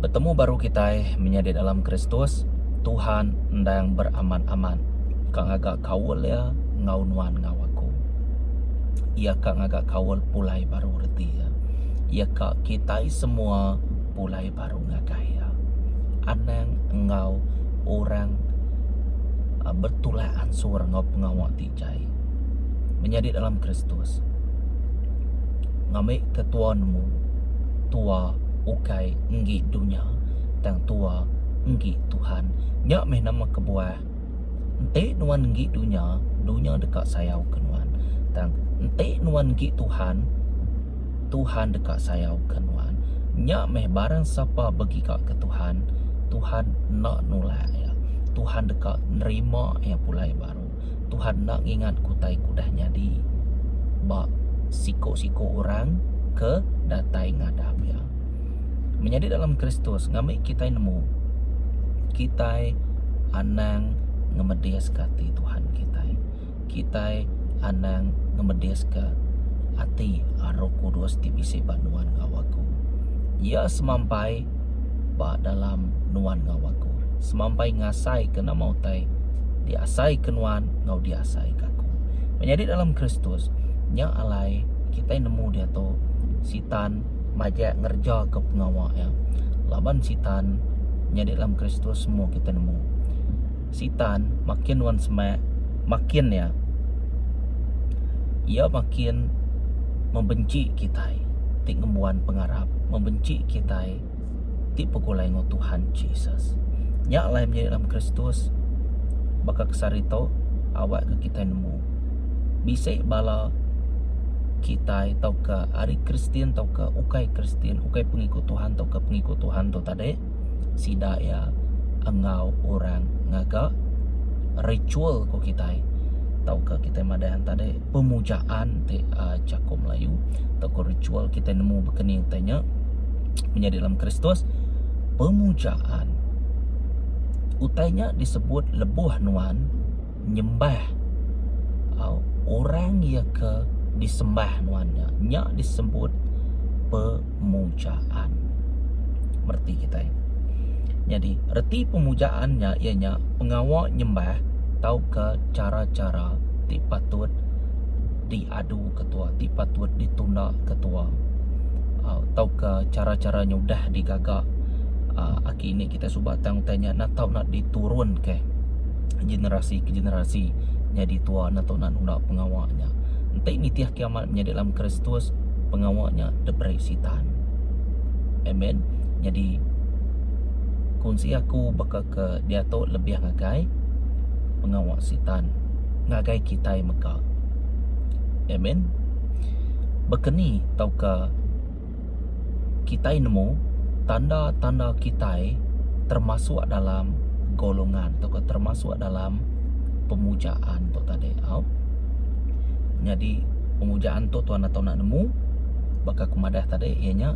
Betemu baru kitai menyadi dalam Kristus, Tuhan endang beramat-amat ka ngaga kaul iya enggau nuan enggau aku. Iya ka ngaga kaul pulai baru reti iya. Iya ka kitai semua pulai baru ngagai iya. Anang enggau orang betulak ansur enggau pengawa ti pechai menyadi dalam Kristus. Ngambika tuanmu tua ukai enggi dunya tang tua enggi Tuhan. Nya meh nama kebuah enti nuan enggi dunya, dunya deka sayauka nuan. Tang enti nuan enggi Tuhan, Tuhan deka sayauka nuan. Nya meh barang sapa begigaka Tuhan, Tuhan enda nulak iya. Tuhan deka nerima iya pulai baru. Tuhan enda ngingat ku utai ke udah nyadi ba siko-siko orang ke datai ngadap iya. Menyadi dalam Kristus ngambi kitai nemu kitai anang ngemediska ati Tuhan kitai. Kitai anang ngemediska ati Roh Kudus ti bisi ba nuan enggau aku. Iya semampai ba dalam nuan enggau aku. Semampai ngasaika nama utai diasaika nuan enggau diasaika aku. Menyadi dalam Kristus, nya alai kitai nemu diatu Sitan majak ngerejaka pengawa iya. Laban Sitan nyadi dalam Kristus semua kitai nemu. Sitan makin nuan semak, makin iya iya makin membenci kitai ti ngembuan pengarap, membenci kitai ti begulai enggau Tuhan Jesus. Nya alai menyadi dalam Kristus baka ke sehari tu awak ke kitai nemu bisi bala kitai tauka ari Kristian tauka ukai Kristian, ukai pengikut Tuhan tauka pengikut Tuhan tu tadi sida iya enggau orang ngaga ritual ku kitai tauka kitai madah iya tadi pemujaan ti uhh jaku melayu tauka ritual kitai nemu ba keni enti nya menyadi dalam kristus pemujaan utai nya disebut lebuh nuan nyembah au orang iya ke disembah nuan nya. Nya disebut pemujaan. Mereti kitai. Nyadi reti pemujaan nya iya nya pengawa nyembah tauka chara-chara ti patut diadu ketua ti patut ditunda ketua au tauka chara-chara nyudah digaga aki indi kitai. Utai suba tang utai nya enda tau nak diturunka generasi ke generasi nyadi tua enda tau nak nunda pengawa nya. Enti nitih kiamat menyadi dalam Kristus pengawa nya diberi Sitan. Amen. Nyadi kunsi aku baka ke diatu lebih ngagai pengawa Sitan ngagai kitai mega. Amen. Baka ni tauka kitai nemu tanda-tanda kitai termasuk dalam golongan atau ke termasuk dalam pemujaan tu tadi au. Nyadi pemujaan tu tuan atau nak nemu baka kemadah tadi iya nya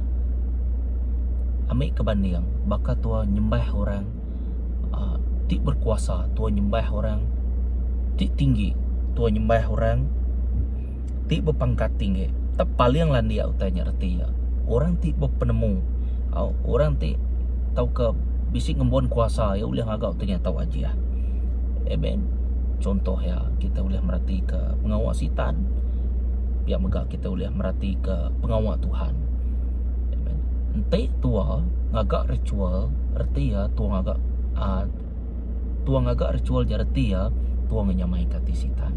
ambil ke banding baka tuan nyembah orang uh, ti berkuasa, tuan nyembah orang ti tinggi, tuan nyembah orang ti bepangkat tinggi tepaling landik utai nya reti iya orang ti bepenemu au orang ti tauka bisi ngembun kuasa iya ulih ngaga utai nya tau ajih amen chuntoh iya kita ulih meratika pengawa sitan pia mega kita ulih meratika pengawa Tuhan amen enti tuwa ngaga ritual reti iya tuwa ngaga um Tua ngaga ritual ja reti iya, tua ngenyamaika ati Sitan.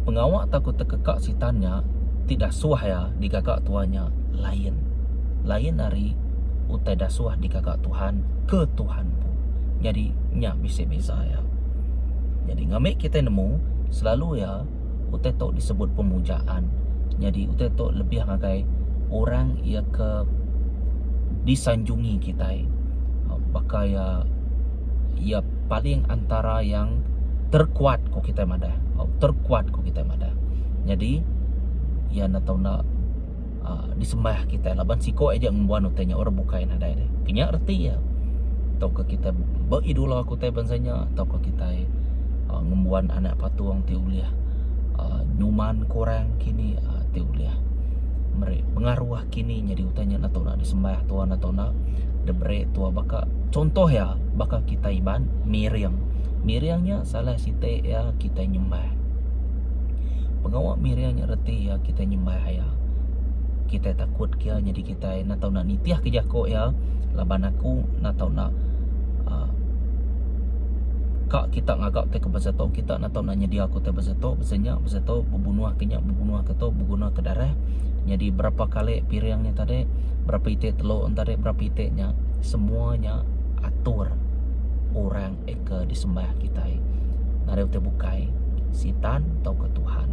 Pengawa tau ku tekeka Sitan nya ti dasuh iya digaga tua nya lain. Lain ari utai dasuh digaga Tuhan ke Tuhan empu. Nyadi nya bisi beza iya. Nyadi ngambika kitai nemu selalu iya utai tu disebut pemujaan nyadi utai tu lebih ngagai orang iya ke disanjungi kitai um baka iya iya paling antara yang terkuat ku kitai madah terkuat ku kitai madah nyadi iya ne tau ne uh, disembah kita laban siko aja ngembuan utai nya orang bukai nadai deh kenya reti ya tau ke kita beridola ke utai bansa nya tau ke kita uh, ngembuan anak patung ti ulih uh, nyuman kurang kini uh, ti ulih meri pengaruh kini jadi utai nya natu nak disembah tua natu nak debere tua baka contoh ya baka kita iban miring miring nya salah siti ya kita nyembah Pengawa Miriam nya reti iya kitai nyembah iya. Kitai takut ke iya nyadi kitai enda tau enda nitih ke jako iya laban aku enda tau enda aaa ka kita ngaga ke basa tu kita enda tau enda nyedia ke utai basa tu basa nya basa tu bebunuh ke nya bebunuh ke tu beguna ke darah nyadi berapa kali piring nya tadi berapa iti telu nya tadi berapa iti nya semua nya atur orang ke disembah kitai ngagai utai bukai sitan tauka tuhan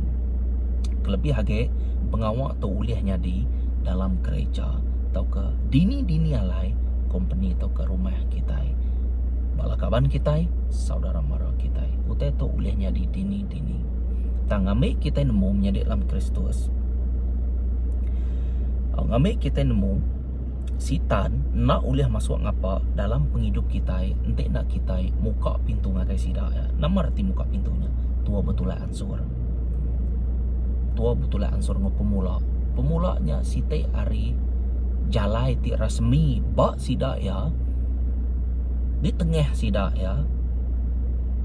kelebih agi pengawa tu ulih nyadi dalam gereja tauka dini-dini alai kompeni tauka rumah kitai bala kaban kitai saudara mara kitai utai tu ulih nyadi dini-dini tang ngambi kitai nemu menyadi dalam kristus tang ngambi kitai nemu Sitan enda ulih masuk ngapa dalam pengidup kitai enti enda kitai muka pintu ngagai sida. Nama reti muka pintu nya? Tua betulak ansur. Tua betulak ansur enggau pemula. Pemula nya siti ari jalai ti rasmi ba sida iya ditengah sida iya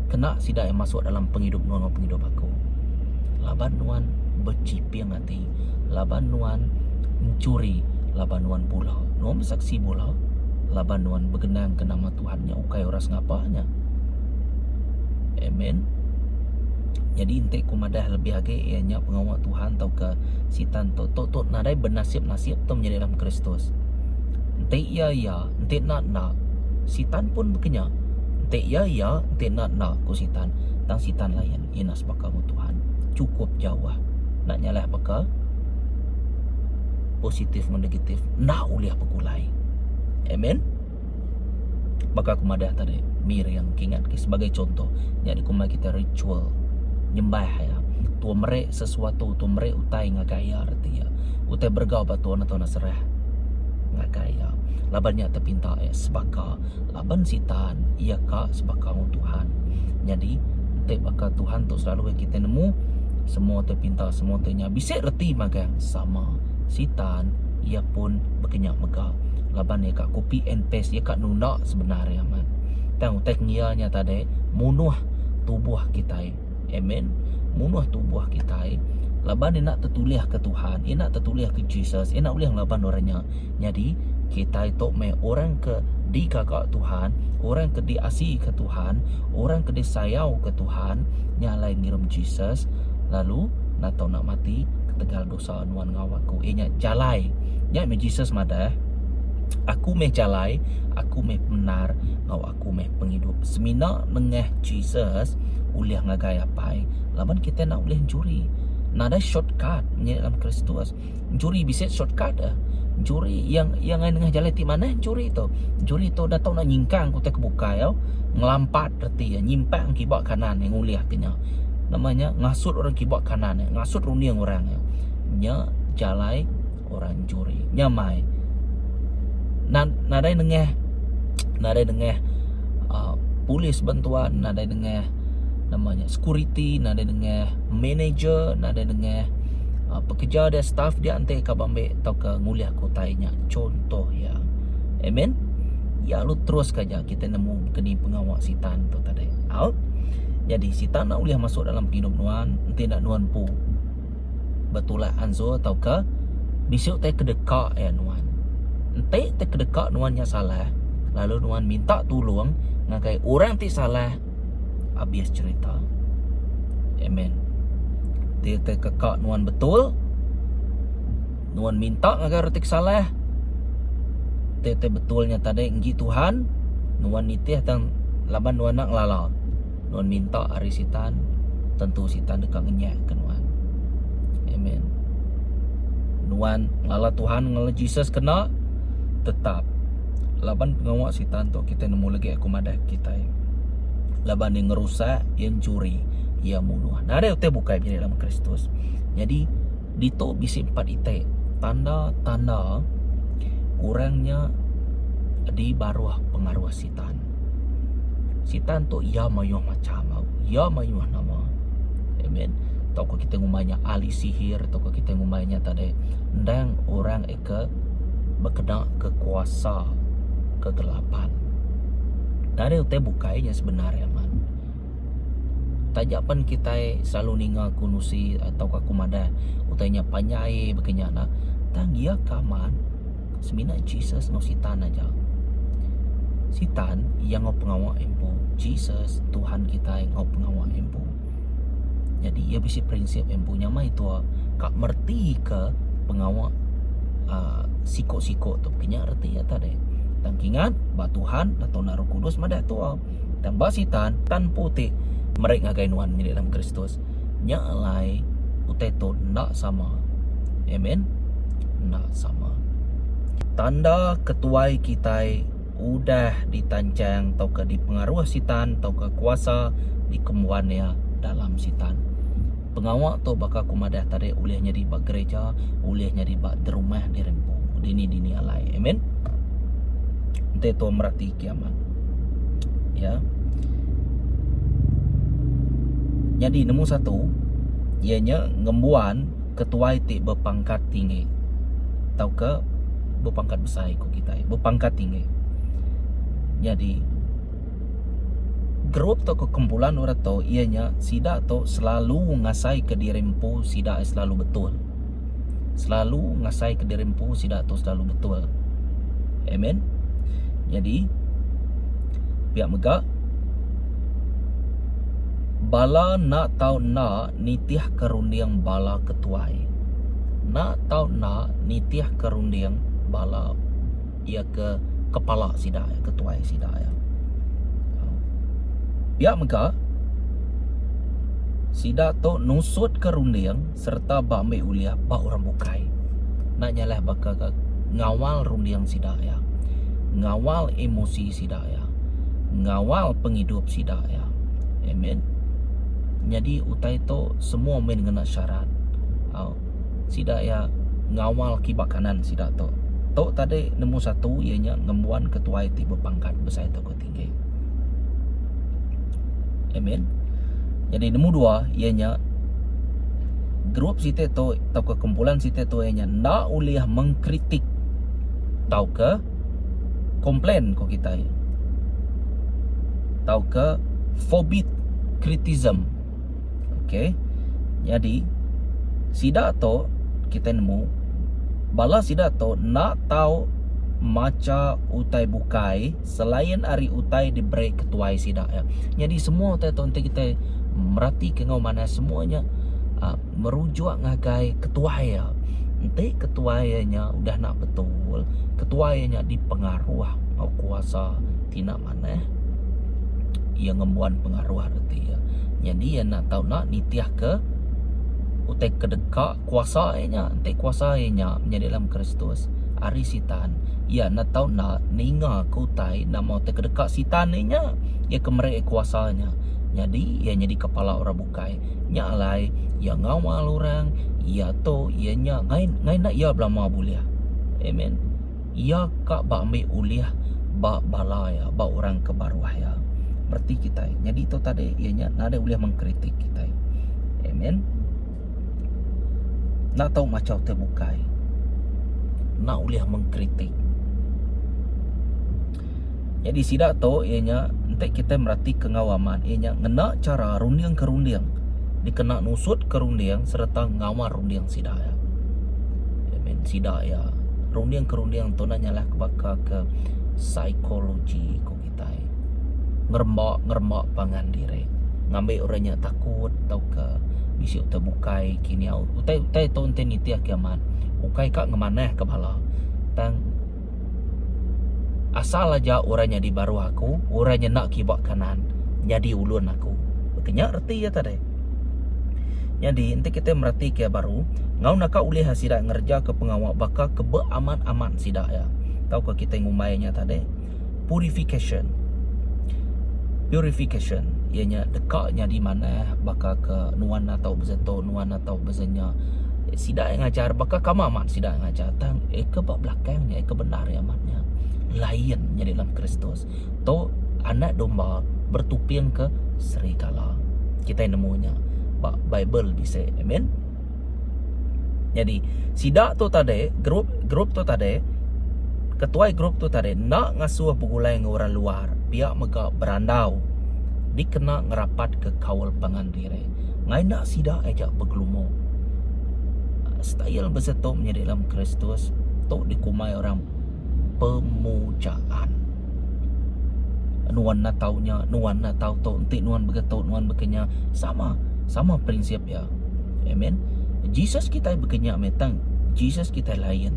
kena sida iya masuk dalam pengidup nuan enggau pengidup aku. Laban nuan bechiping ati. Ti laban nuan enchuri laban nuan bula. Nuan besaksi bula laban nuan begenangka nama Tuhan nya ukai orang sengapa nya. Amen. Nyadi enti ku madah lebih agi iya nya pengawa Tuhan tauka Sitan tu tu tu nadai benasip-nasip tu menyadi dalam Kristus. Enti iya iya, enti enda enda, Sitan pun baka nya. Enti iya iya, enti enda enda, ku Sitan. Tang Sitan layan. Ina sebaka mu Tuhan cukup jauh nak nyalai baka positif ngan negatif enda ulih begulai. Amen. Baka aku madah tadi, mir yang kingat ke sebagai contoh nya di kumai kita ritual nyembah ya. Tu meri sesuatu, tu meri utai ngagai ya reti ya. Utai bergau ba tuan atau nak serah ngagai ya. Laban nya tepinta ya sebaka Laban Sitan iya ka sebakang Tuhan. Nyadi enti baka Tuhan tu selalu kita nemu semua tu pintar semua tu nya bisi reti magang sama Sitan iya pun bekenya mega laban iya ka copy and paste iya ka nunda sebenar iya amat. Tang utai ngiya nya tadi munuh tubuh kitai. Amen. Munuh tubuh kitai laban enda tetulih ke Tuhan, enda tetulih ke Jesus, enda ulih ngelaban orang nya. Nyadi kitai tu meh orang ke digaga Tuhan, orang ke diasi ke Tuhan, orang ke disayau ke Tuhan nya alai ngirum Jesus lalu enda tau nak mati ketegal dosa nuan enggau aku. Iya nya jalai. Nya meh Jesus madah, Aku meh jalai, aku meh pemendar enggau aku. aku meh pengidup semina nengah Jesus ulih ngagai apai laban kita enda ulih juri nadai shortcut menya dalam kristus juri bisi shortcut eh juri yang yang ngai nengah jalai ti manah juri tu juri tu enda tau nak nyingkang utai ke bukai au ngelampat reti iya nyimpang kiba kanan iya ngulih ke nya nama nya ngasut orang kiba kanan iya ngasut runding orang iya nya jalai orang juri nyamai nadai nengah nadai nengah uh, polis bantuan nadai nengah nama nya security nadai nengah manager nadai nengah uh, pekerja dia staff dia enti ka bambe atau ke ngulih ke utai nya contoh ya amen ya lu terus ka ja kita nemu keni pengawa sitan tu tadi out jadi sitan nak ulih masuk dalam hidup nuan enti nak nuan pu betulak anzur tauka bisu tai kedeka iya nuan. Enti tai kedeka nuan nya salah lalu nuan minta tulung ngagai orang ti salah abis cerita. Amen. Ti tai keka nuan betul nuan minta ngagai orang ti salah ti tai betul nya tadi enggi Tuhan nuan nitih tang laban nuan enda ngelala. Nuan minta ari Sitan, tentu Sitan deka ngenyahka nuan. Amen. Nuan ngelala Tuhan, ngelala Jesus kena tetap laban pengawa Sitan tu kita nemu lagi aku madah kita. Laban dia ngerusak, dia mencuri, dia munuh. Nari utai bukai jadi dalam Kristus. Jadi ditu bisi empat itai tanda-tanda orangnya di baruh pengaruh Sitan. Sitan. Sitan tu iya mayuh macam tau. Iya mayuh nama. Amen. Tau ke kita ngumbai nya ahli sihir atau ke kita ngumbai nya tadi endang orang eka bekena ke kuasa kegelapan. Dari utai bukai nya sebenar ya man. Taja pen kita selalu ninga kunusi atau ke kumadah utai nya panyai begenya na. Tang iya ka man. semina Jesus enggau Sitan aja. Sitan iya enggau pengawa empu, Jesus Tuhan kitai enggau pengawa empu. Jadi iya bisi prinsip empu nya meh itu ka mereti ke pengawa uh, siko-siko tu kinya reti iya tadi. Tang kingat ba Tuhan ba Tuhan Roh Kudus madah tu. Tang ba Sitan tan putik meri ngagai nuan mili dalam Kristus. Nya alai utai tu enda sama. Amen. Enda sama. Tanda ketuai kitai udah ditanchang tauka dipengaruh Sitan tauka kuasa dikembuan iya dalam Sitan. Pengawa tu baka aku madah tadi ulih nyadi ba gerija, ulih nyadi ba derumah diri empu, dini-dini alai. Amen. Enti tu meratika. kiamat. Ya. Jadi nombor satu ia nya ngembuan ketuai ti berpangkat tinggi tauka berpangkat besai ku kitai berpangkat tinggi. Jadi grup tauka kumpulan orang tu ia nya sida tu selalu ngasai ke diri empu sida selalu betul. selalu ngasai ke diri empu sida tu selalu betul. Amen. Jadi pia mega bala nak tau nak nitih ke runding bala ke tuai. Nak tau nak nitih ke runding bala ia ke kepala sida, ke tuai sida. Pia mega sida tu nusut ke runding sereta ba ambi ulih ba orang bukai enda nyalah baka ke ngawal runding sida iya, ngawal emosi sida iya, ngawal pengidup sida iya. Amen. Nyadi utai tu semua mih ngena syarat. Au. Sida iya ngawal kiba kanan sida tu. Tu tadi nombor satu iya nya ngembuan ketuai ti bepangkat besai tu ke ti. Okey. Amen. Jadi nemu dua ia nya grup siti tu atau ke kumpulan siti tu ia nya enda ulih mengkritik atau ke komplain ko kita. Atau ke forbid criticism. Okey. Jadi sida tu kita nemu bala sida tu enda tau macha utai bukai selain ari utai di break ketuai sida iya. Nyadi semua utai tu enti kita merati ke ngau manah semua nya uh, merujuk ngagai ketuai iya. Enti ketuai iya nya udah nak betul, ketuai iya nya dipengaruh ngau kuasa tina manah iya ngembuan pengaruh reti iya. Nyadi iya nak tau nak nitih ke utai kedeka Kuasa ae nya enti kuasa ae nya nya dalam Kristus ari sitan iya enda tau enda ninga ke utai enda mau ti kedeka sitan ae nya iya ke meri ae kuasa nya nyadi iya nyadi kepala orang bukai nya alai iya ngawal orang iya tu iya nya ngai ngai enda iya belama bulih amen iya ka ba ambi ulih ba bala iya ba orang ke ba ruah iya reti kitai nyadi tu tadi iya nya nadai ulih mengkritik kitai amen. Enda tau machau te bukai. Enda ulih mengkritik. Jadi sida tu iya nya enti kita merati ke enggau amat iya nya ngena chara runding ke runding dikena nusut ke runding sereta ngawal runding sida iya. That mean sida iya runding ke runding tu enda nyalah ke baka ke psikologi ko. kitai ngeremba ngeremba pangan diri ngambi orang nya takut tauka bisi utai bukai kinyau utai utai tu enti nitih ke amat ukai ka ngemanah ke bala tang asal aja orang nyadi baruh aku orang nyenda kiba kanan nyadi ulun aku ti nya reti iya tadi nyadi enti kitai mereti ke baru enggau naka ulih sida ngereja ke pengawa baka ke be amat amat sida iya tauka kitai ngumbai nya tadi. purifikasyen. Purifikasyen iya nya deka nyadi manah baka ke nuan atau beza tu nuan atau beza nya sida yang ngajar baka ke ama amat sida yang ngajar tang iya ke ba belakang nya iya ke bendar iya amat nya lain nya di dalam kristus tu anak domba bertuping ke serigala. Kitai nemu nya ba bible bisi. Amen. Nyadi, sida tu tadi, group group tu tadi, ketuai group tu tadi enda ngasuh begulai enggau orang luar, pia mega berandau dikena ngerapatka kaul pangan diri. Ngai enda sida aja begelumu. Style besetu menyadi dalam Kristus tu dikumbai orang pemujaan. Nuan enda tau nya, nuan enda tau tu, enti nuan begetu, nuan baka nya, sama, sama prinsip. Ya. Amen. Jesus kitai baka nya meh tang Jesus kitai lain.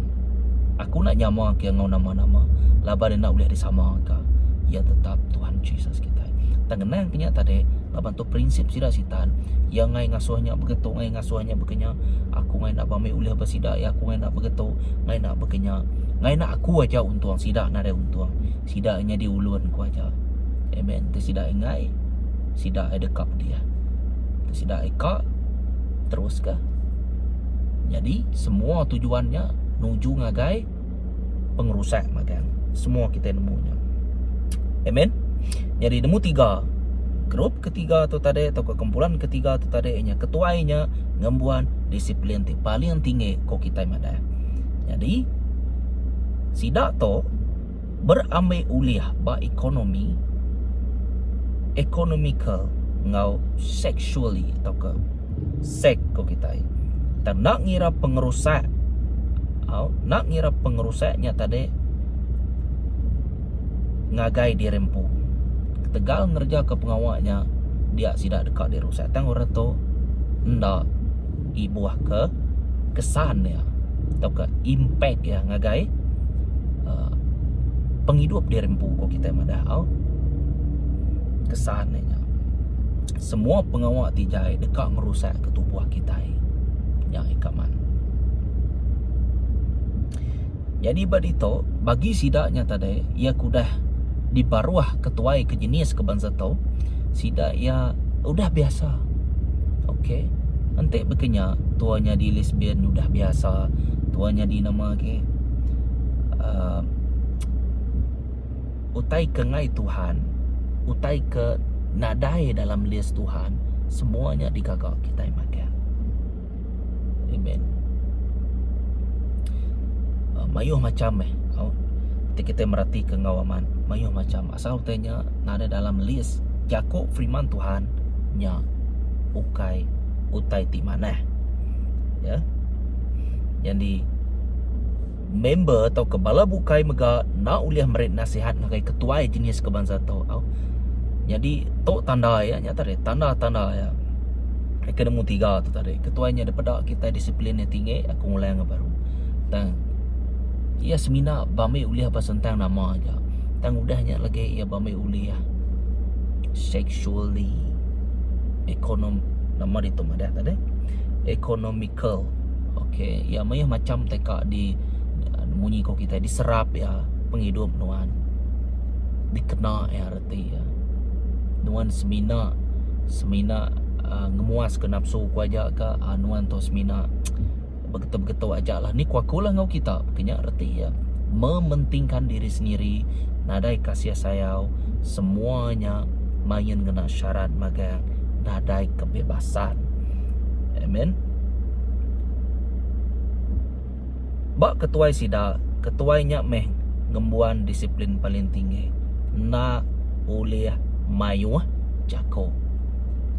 Aku enda nyama ke enggau nama-nama laban enda ulih disama ka. Ya tetap Tuhan Jesus kitai. Tang ngenang ke nya tadi laban tu prinsip sida sitan ya ngai ngasuh nya baka tu ngai ngasuh nya baka nya. Aku ngai enda bami ulih ba sida ya aku ngai enda baka tu ngai enda baka nya. Ngai enda aku aja untung sida nadai untung. Sida nyadi ulun ku aja. Amen. Enti sida enggai, sida ai deka pedih. Enti sida ai ka, teruska. Nyadi semua tujuan nya nuju ngagai pengerusak magang. Semua kitai nemu nya. Amen. Nyadi nemu tiga, group ketiga tu tadi tauka kumpulan ketiga tu tadi iya nya ketuai nya ngembuan disiplin ti paling tinggi ku kitai madah. Nyadi sida tu berambai ulih ba ekonomi, economical enggau sexually tauka seks ku kitai. Tang enda ngira pengerusak au enda ngira pengerusak nya tadi ngagai diri empu. Ketegal ngerejaka pengawa nya dia sida deka dirusak tang orang tu enda. ibuhka kesan iya tauka impact iya ngagai uh, pengidup diri empu ko kita madah au kesan iya semua pengawa ti jai deka ngerusak ke tubuh kita nya ika man Jadi ba ditu, bagi sida nya tadi, iya ke udah dibaruh ke tuai ke jenis ke bansa tu, sida iya udah biasa. Ok. Enti baka nya, tua nyadi lesbian udah biasa. Tua nyadi nama agi, uhh utai ke ngai Tuhan, utai ke nadai dalam list Tuhan, semua nya digaga kitai magang. Amen uh, Mayuh macam eh oh, Kita kita merati ke ngau aman Mayuh macam Asal utai nya Nada dalam list Jaku firman Tuhan Nya Ukai Utai ti manah Ya Yang di member tauka bala bukai mega enda ulih meri nasihat ngagai ketuai jenis ke bansa tu tau. Nyadi tu tanda iya nya tadi tanda-tanda iya. Ke nemu tiga tu tadi ketuai nya dipeda kitai disiplin iya tinggi aku ngulang iya baru. Tang iya semina ba meh ulih ba sentang nama aja tang udah nya lagi iya ba meh ulih sexually ekonom nama ditu madah tadi ekonomi. curl ok iya meyuh macam teka di munyi ko kitai di serap iya pengidup nuan di kena iya reti iya nuan semina semina uhh ngemuas ka napsu ko aja ka uhh nuan tu semina begetu begetu aja la ni ko aku la enggau kita ke nya reti iya mementing kan diri sendiri nadai kasih sayau semua nya main ngena syarat magang nadai kebebasan. Amen. Ba ketuai sida, ketuai nya meh ngembuan disiplin paling tinggi. Enda ulih mayuh jaku.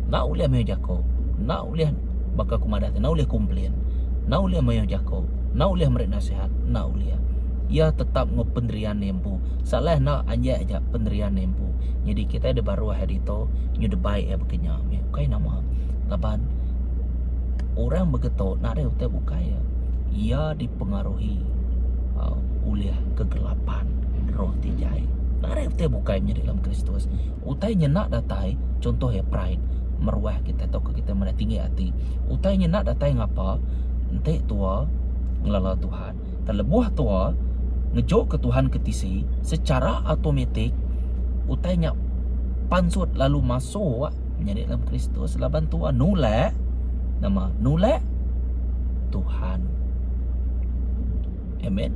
Enda ulih mayuh jaku. Enda ulih baka ku madah ti enda ulih komplain. Enda ulih mayuh jaku. Enda ulih meri nasihat. Enda ulih. Iya tetap ngau penderian iya empu. empu. Salah enda anjak aja penerian empu. Nyadi kitai da baruh hari tu nyu da bai iya baka nya meh. Ukai nama laban orang baka tu nadai utai bukai iya. Iya dipengaruhi aaa ulih kegelapan roh ti jai. Nadai utai bukai menyadi dalam Kristus. Utai nya enda datai chunto iya pride meruah kitai tauka kitai meda tinggi ati. Utai nya enda datai ngapa enti tua ngelala Tuhan. Telebuh tua, ngejoka Tuhan ke tisi, sechara automatik utai nya pansut lalu masuk nyadi dalam Kristus laban tua nulak nama nulak Tuhan. Amen.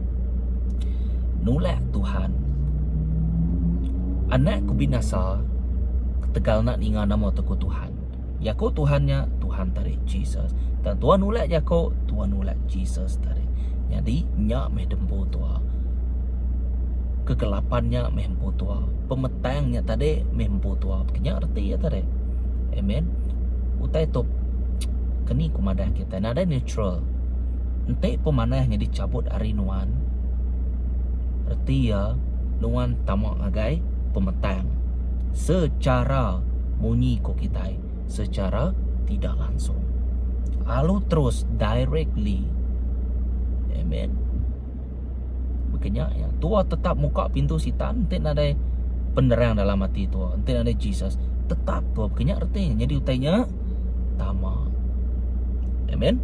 Nulak Tuhan. Anak ke binasa ketegal nak ninga nama tu Tuhan. Jaku Tuhan nya Tuhan tadi Jesus. Dan Tuhan ulat jaku, Tuhan ulat Jesus tadi. Jadi nya meh dempu tua. Kegelapan nya meh empu tua. Pemetang nya tadi meh empu tua. Kenya reti ya tadi. Amen. Utai tu keni ku madah kita nada neutral. Enti pemanah nya dicabut hari nuan reti ya nuan tama ngagai pemetang. Secara munyi ku kitai secara tidak langsung. Alu terus directly. Amen. Baka nya ya. Tua tetap muka pintu sitan enti nadai penerang dalam ati tua, enti nadai Jesus. Tetap tua baka nya reti. Nyadi utai nya tama. Amen.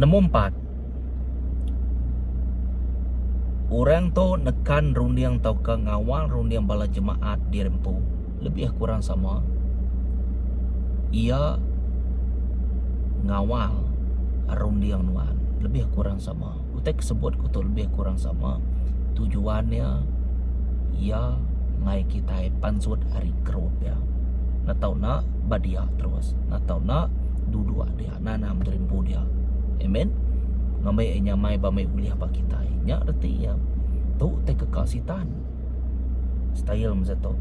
Nemu empat. Orang tu nekan runding tauka ngawal runding bala jemaat di hari empu lebih kurang sama. Iya ngawal runding nuan lebih kurang sama. Utai ke sebut ku tu lebih kurang sama tujuan iya iya mai kitai pansut ari group iya. Nang tau enda ba dia terus nang tau enda duduk dia. Nanam tu rimpu dia. Amen. Ngambai ai nyamai ba mai ulih ba kitai. Nya reti iya. Tu te keka sitan. Style masa tu.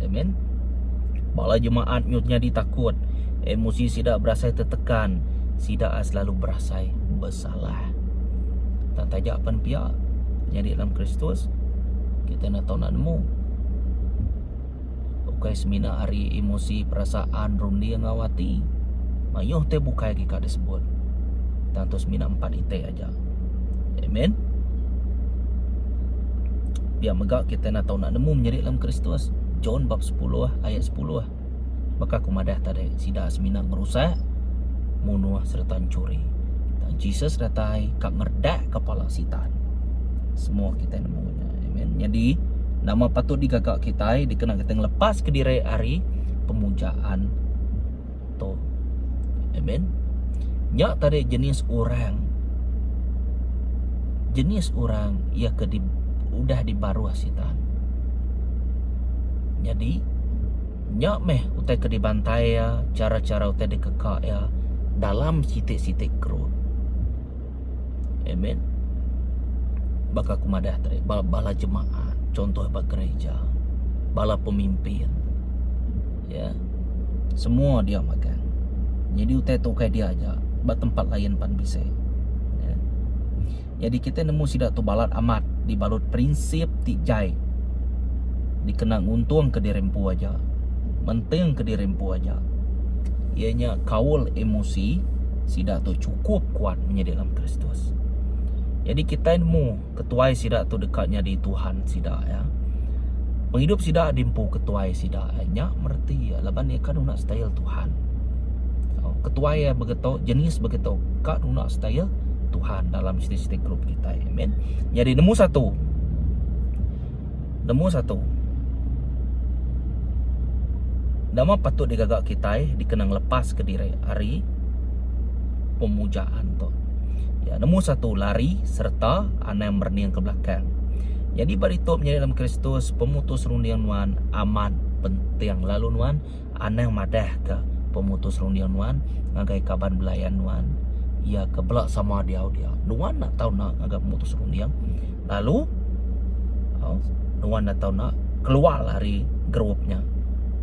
Amen. Bala jemaat nyut nyadi takut. Emosi sida berasai tertekan. Sida selalu berasai bersalah. Tak tajak pen pia. Nyadi dalam Kristus. Kita nak tahu nak nemu. Ukai semina ari emosi, perasaan, runding enggau ati. Mayuh te bukai agi ka disebut. Tang tu semina empat ite aja. Amen. Pia mega kita nak tahu nak nemu menyeri dalam Kristus. John bab 10 ayat 10. Baka aku madah tadi, sida semina ngerusak, munuh serta mencuri. Dan Jesus datai ka ngerdak kepala sitan. Semua kita nemu. Amen. Jadi nama patut digaga kita dikena kita ngelepas ke diri hari pemujaan tu. Amen. Nya tadi jenis orang jenis orang ia ke di, udah dibaruh sitan. Jadi nya meh utai ke dibantai ya, cara-cara utai dikeka ya dalam siti-siti kerut. Amen. Baka aku madah tadi, bala, bala jemaat, contoh bala gereja, bala pemimpin. Ya. Semua dia makan. Jadi utai tu kai dia aja, ba tempat lain pan bisa. Ya. Jadi kita nemu sida tu balat amat dibalut prinsip ti jai dikena nguntung ke diri empu aja. Menting ke diri empu aja. Ianya kaul emosi sida tu kup kuat menyadi dalam Kristus. Jadi kitai nemu ketuai sida tu deka nyadi tuhan sida ya. Pengidup sida diempu ketuai sida ya. Nya mereti ya laban iya ka nuna style tuhan. So, ketuai ya begitu jenis begitu ka nuna style tuhan dalam siti-siti grup kitai. Amen. Jadi nemu satu. Nemu satu, nama patut digaga kitai dikena ngelepaska diri ari pemujaan tu? Ya, nemu satu, lari sereta anang merening ke belakang. Nyadi ba ditu menyadi dalam Kristus, pemutus runding nuan amat penting lalu nuan. Anang madah ke pemutus runding nuan ngagai kaban belayan nuan iya ke bela sama diau dia. Nuan enda tau enda ngagai pemutus runding lalu oh, nuan enda tau enda keluar ari grup nya.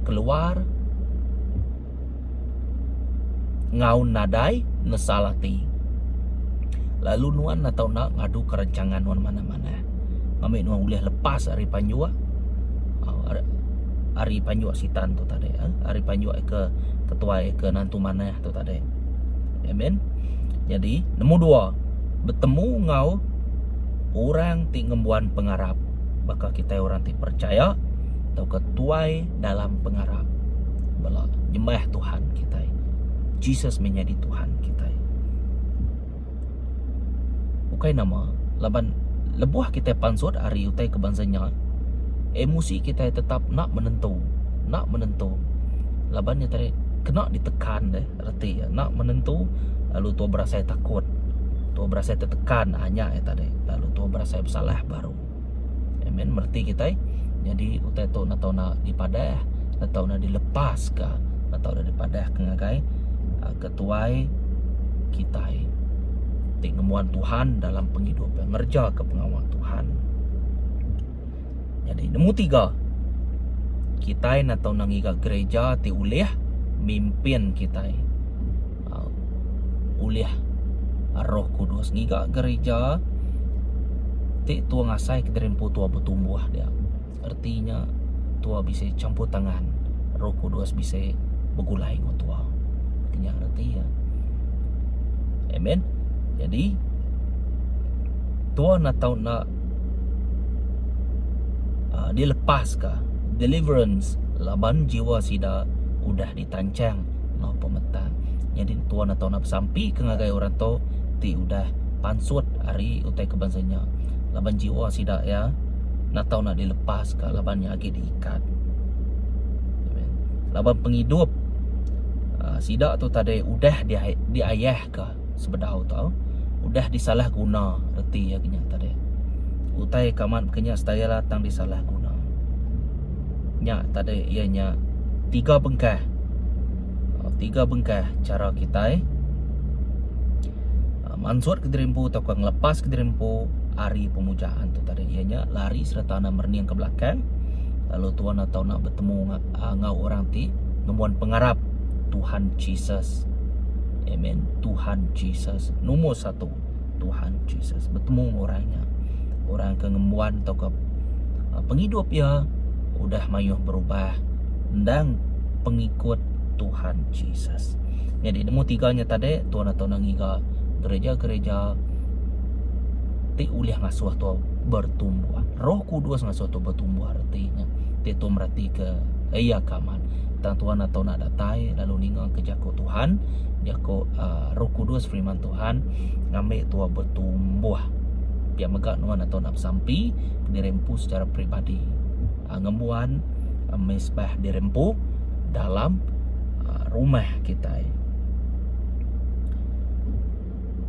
Keluar ngaun nadai nesal ati. Lalu nuan enda tau enda ngadu ke rancangan nuan mana-mana. eh ngambi nuan ulih lepas ari panjua ah, ari, ari panjua sitan tu tadi eh ari panjua ke ketuai ke nantu manah tu tadi amen jadi nombor dua bertemu ngau orang ti ngembuan pengarap baka kita orang ti percaya atau ketuai dalam pengarap bela nyembah Tuhan kita Jesus menjadi Tuhan kita Ukai nama, laban lebuh kitai pansut ari utai ke bansa nya, emosi kitai tetap enda menentu, enda menentu laban nya tadi kena ditekan deh reti iya, enda menentu lalu tuah berasai takut, tuah berasai tetekan ha nya iya tadi lalu tuah berasai besalah baru. Iya meh reti kitai nyadi utai tu enda tau enda dipadah, enda tau enda dilepaska, enda tau enda dipadah ngagai tuai kitai ti ngembuan Tuhan dalam pengidup iya ngerejaka pengawa Tuhan. Nyadi nemu tiga kitai enda tau enda ngiga gereja ti ulih mimpin kitai um ulih roh kudus ngiga gereja ti tung asai kederai empu tua betumbuh dia. Reti nya tua bisi champur tangan Roh Kudus bisi begulai enggau tua. Ti nya reti iya. Amen. Jadi tua nak tau nak uh, dilepaska deliverance laban jiwa sida udah di tanchang enggau pemetang. Nyadi entua ne tau na besampika ngagai orang tu ti udah pansut ari utai ke bansa nya laban jiwa sida iya enda tau nak dilepaska laban iya agi diikat. Laban pengidup aaa sida tu tadi udah diayah. ka sebedau tau udah disalah guna reti iya kinya tadi utai ka amat kinya style iya tang disalah guna nya tadi iya nya tiga bengkah um tiga bengkah cara kitai um mansut ka diri empu tauka ngelepas ka diri empu ari pemujaan tu tadi iya nya lari sereta enda merening ka belakang lalu tuan atau enda betemu ngak uh, ngau orang ti nemuan pengarap Tuhan Jesus. Amen. Tuhan Jesus nombor satu. Tuhan Jesus bertemu dengan orang nya. Orang ke ngembuan atau ke uh, pengidup ia udah mayuh berubah endang pengikut Tuhan Jesus. Jadi nemu tiga nya tadi tuan atau nang ngiga gereja-gereja ti ulih ngasuh tu bertumbuh. Roh Kudus ngasuh tu Betumbuh reti nya. Ti tu meratika iya ka amat. Tang Tuhan atau nak datai lalu ninga ke jaku Tuhan, jaku uh, Roh Kudus firman Tuhan ngambil tua bertumbuh. Pia mega nuan atau nak sampi dirempu secara peribadi. Uh, ngembuan uh, ah, mesbah dirempu dalam uh, rumah kita.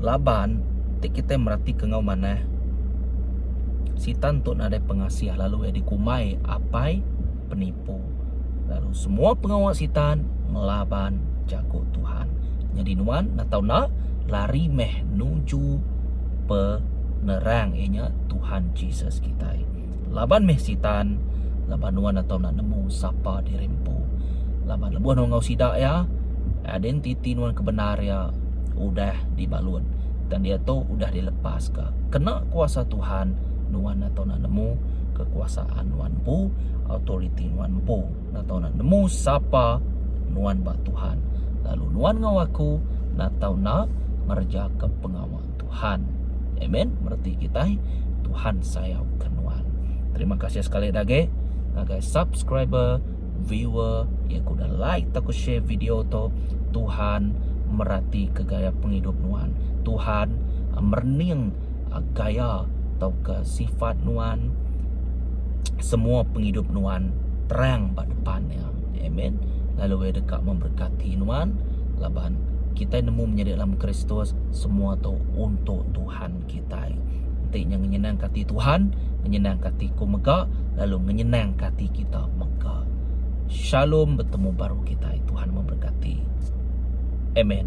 laban ti kitai meratika enggau manah sitan tu nadai pengasih lalu iya dikumbai apai penipu lalu semua pengawa sitan ngelaban jaku Tuhan. Nyadi nuan enda tau enda lari meh nuju penerang iya nya Tuhan Jesus kitai. Laban meh sitan laban nuan enda tau enda nemu sapa diri empu. Laban lebuh nuan enggau sida iya identiti nuan ke bendar iya udah dibalut dan diatu udah dilepaska kena kuasa Tuhan nuan atu enda nemu kekuasaan nuan empu authority nuan empu enda tau enda nemu sapa nuan ba Tuhan lalu nuan enggau aku enda tau enda ngerejaka pengawa Tuhan amen bereti kitai Tuhan sayauka nuan terima kasih sekali agi ngagai subscriber viewer iya ku udah like tauka share video tu Tuhan merati ke gaya pengidup nuan Tuhan merening gaya tauka sifat nuan semua pengidup nuan terang ba depan iya amen lalu iya deka memberkati nuan laban kitai nemu menyadi dalam Kristus semua tu untuk Tuhan. kitai. Enti nya ngenyenangka ati Tuhan, ngenyenangka ati ku mega lalu ngenyenangka ati kita mega. Shalom betemu baru kitai. Tuhan memberkati. Amen.